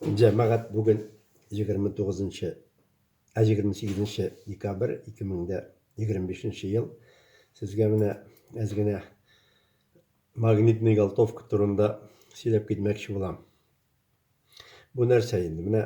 Җәмәгать бүген 29-нчы, ә 28-нче декабрь 2025 ел. Сезгә менә әз генә магнитный галтовка турында сөйләп китмәкче булам. Бу нәрсә инде? Менә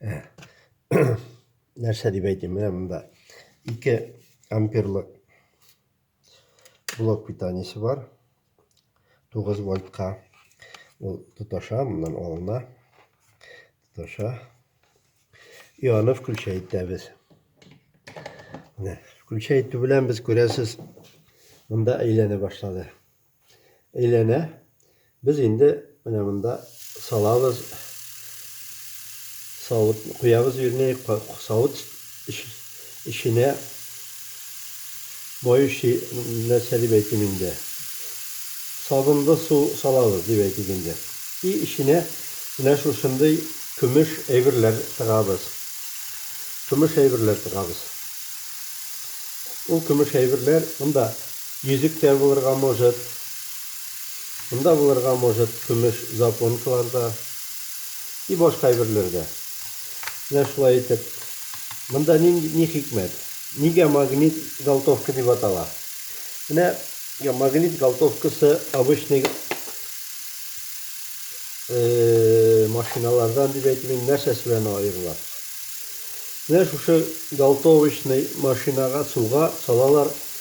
Ә, нәрсә дип әйтим, менә монда 2 амперлык блок питаниесе бар. 9 вольтка ул тоташа, моннан алына. Тоташа. И аны включа итәбез. Менә, включа итү белән без күрәсез, монда әйләнә башлады. Әйләнә. Без инде менә монда салабыз. Савыт куябыз, вернее, савыт эченә моющий нәрсә дип әйтим инде. Сабынлы су салабыз дип әйтик инде. И эченә менә шушындый көмеш әйберләр тыгабыз. Көмеш әйберләр тыгабыз. Ул көмеш әйберләр монда Йөзек тә булырга может. Монда булырга может көмеш запонкалар да. И башка әйберләр дә. Менә шулай итеп. Монда нинди, ни хикмәт? Нигә магнит галтовка дип атала? Менә магнит галтовкасы обычный машиналардан дип әйтим инде, нәрсәсе белән аерыла? Менә шушы галтовочный машинага суга салалар.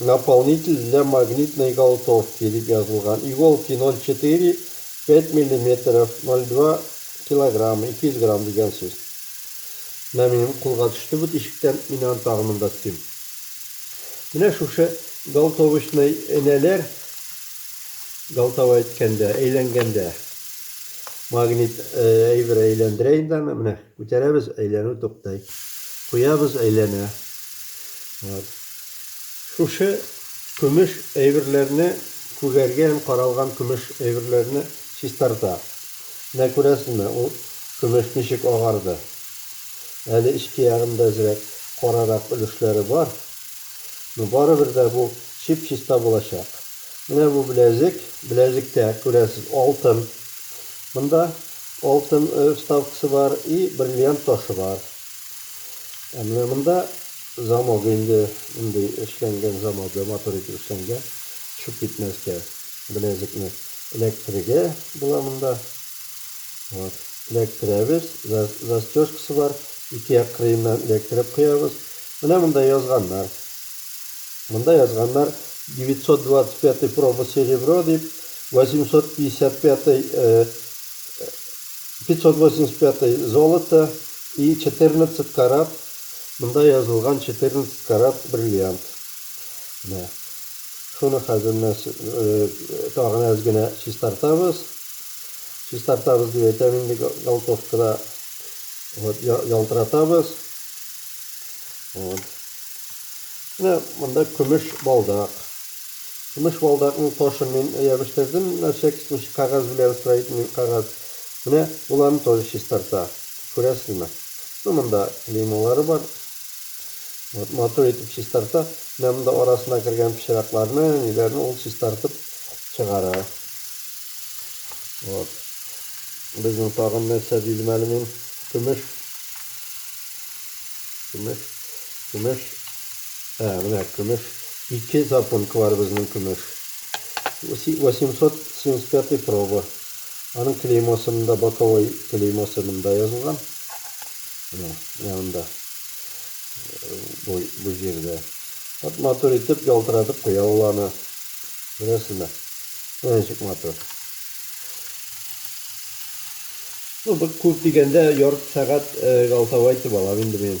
Наполнитель для магнитной голтовки дип язылган, иголки ноль четыре, пять миллиметров, ноль два килограмма, ике йөз грамм дигән сүз. Менә минем кулга төште бу тишектән, мин аны тагын монда тотыйм. Менә шушы голтовочный энәләр, голтовая әйткәндә, әйләнгәндә, магнит әйбер әйләндерә инде аны, менә күтәрәбез, әйләнү туктый. Куябыз, әйләнә. Вот. Шушы көмеш әйберләрне күгәргә һәм каралган көмеш әйберләрне чистарта. Менә күрәсезме, ул көмеш ничек агарды. Әле эчке ягында әзрәк карарак өлешләре бар, но барыбер дә бу чип-чиста булачак. Менә бу беләзек, беләзектә, күрәсез, алтын. Монда алтын вставкасы бар и бриллиант ташы бар. Ә менә монда замок инде мондый эшләнгән замогы матур итеп эшләнгән. Төшеп китмәскә беләзекне эләктерергә була монда. Вот. Эләктерәбез. Застежкасы бар. Ике як кырыеннан эләктереп куябыз. Менә монда язганнар. Монда язганнар 925 проба серебро дип, 855 пятьсот восемьдесят пятый золото и четырнадцать карат, монда язылган четырнадцать карат бриллиант. Менә шуны хәзер менә тагын әз генә чистартабыз. Чистартабыз дип әйтәм инде галтовкада. Вот ялтыратабыз. Вот. Менә монда көмеш балдак. Көмеш балдакның ташын мин ябештердем, нәрсә кисмичә кәгазь белән строительный кәгазь. Менә ул аны тоже чистарта. Күрәсезме? Ну, монда клеймолары бар. Вот, матур итеп чистарта. Менә монда арасына кергән пычракларны, ниләрне ул чистартып чыгара. Вот. Безнең тагын нәрсә дидем әле мин? Көмеш. Көмеш. Көмеш. Ә, менә көмеш. Ике запонка бар безнең көмеш. Восемьсот семьдесят пятый проба. Аның клеймосы монда, боковой клеймосы монда язылган. Менә, менә монда. Бу, бу җирдә. Вот матур итеп ялтыратып куя ул аны. Беләсезме? Менә ничек матур. Ну, бу күп дигәндә ярты сәгать галтавайтып алам инде мин.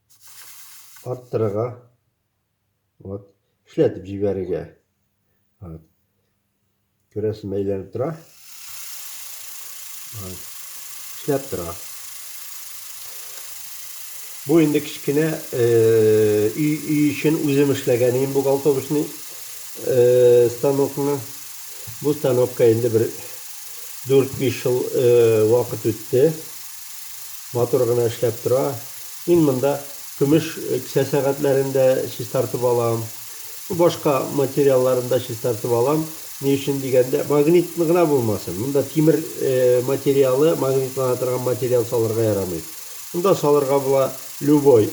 арттырырга, вот, эшләтеп җибәрергә. Вот. Күрәсең, әйләнеп тора. Вот. Эшләп тора. Бу инде кечкенә өй өй өчен үзем эшләгән идем бу голтовочный станокны. Бу станокка инде бер 4-5 ел вакыт үтте. Мотор гына эшләп тора. Мин монда көмеш кесә сәгатьләрен дә чистартып алам. Башка материалларын да чистартып алам. Ни өчен дигәндә, магнит гына булмасын. Монда тимер материалы, магнитлана торган материал салырга ярамый. Монда салырга була любой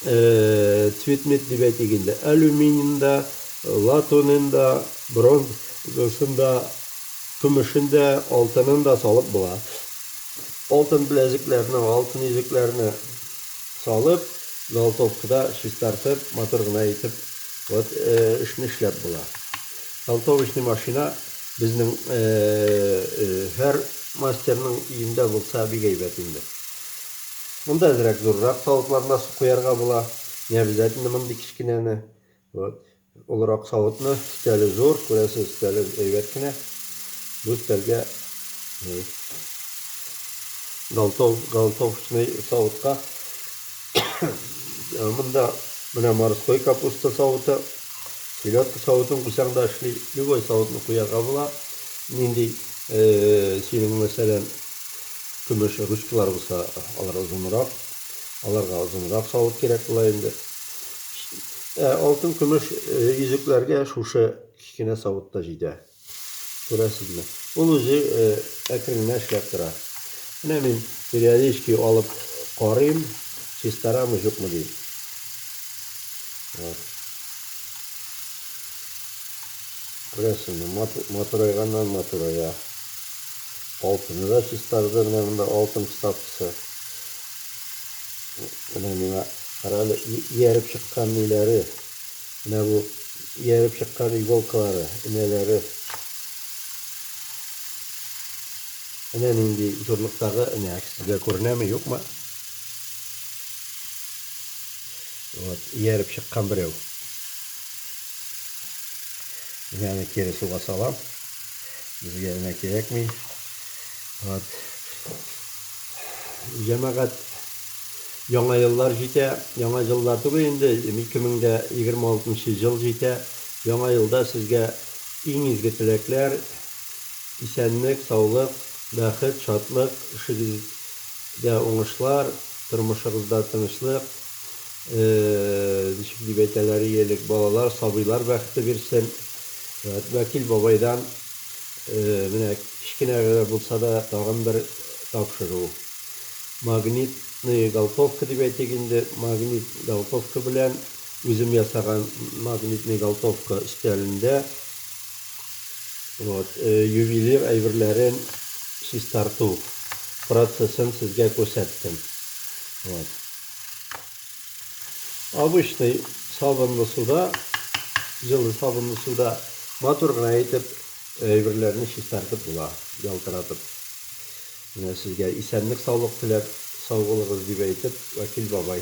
цветмет дип әйтик инде. Алюминин да, латунен да, бронзасын да, көмешен дә, алтынын да салып була. Алтын беләзекләрне, алтын йөзекләрне салып, золотовкада чистартып, матур гына итеп, вот эшне эшләп була. Золотовочный машина безнең һәр мастерның өендә булса бик әйбәт инде. Монда әзрәк зуррак савытларына су куярга була, не обязательно мондый кечкенәне. Вот. Олырак савытны, өстәле зур, күрәсез, өстәле әйбәт кенә. Бу өстәлгә галтов, галтовчный савытка. Монда менә морской капуста савыты, селедка савытын куйсаң да эшли, любой савытны куярга була. Нинди синең мәсәлән көмеш ручкалар булса, алар озынрак, аларга озынрак савыт кирәк була инде. Ә алтын-көмеш йөзекләргә шушы кечкенә савыт та җитә. Күрәсезме? Ул үзе әкрен генә эшләп тора. Менә мин периодически алып карыйм, чистарамы, юкмы дим. Вот. Күрәсезме, матурайганнан матурая. Алтыны да чистарды, менә монда алтын вставкасы. Менә миңа карале, ияреп чыккан ниләре. Менә бу ияреп чыккан иголкалары, энәләре. Энә нинди зурлыктагы энә, сезгә күренәме, юкмы? Вот, ияреп чыккан берәү. Энәне кире суга салам. Безгә энә кирәкми. Вот. Җәмәгать, яңа еллар җитә, яңа җылда түгел инде, 2026 җыл җитә, яңа елда сезгә иң изге теләкләр, исәнлек, саулык, бәхет, шатлык, эшегездә уңышлар, тормышыгызда тынычлык, ничек дип әйтәләр и элек, балалар, сабыйлар бәхете бирсен. Вәкил бабайдан менә Кечкенә генә булса да тагын бер тапшыру. Магнитные голтовка дип әйтик инде, магнит голтовка белән үзем ясаган магнитный голтовка өстәлендә вот ювелир әйберләрен чистарту процессын сезгә күрсәттем. Вот. Обычный сабынлы суда, җылы сабынлы суда матур гына итеп Әйберләрне чистартып була, ялтыратып. Менә сезгә исәнлек-саулык теләп, сау булыгыз дип әйтеп, Вәкил бабай.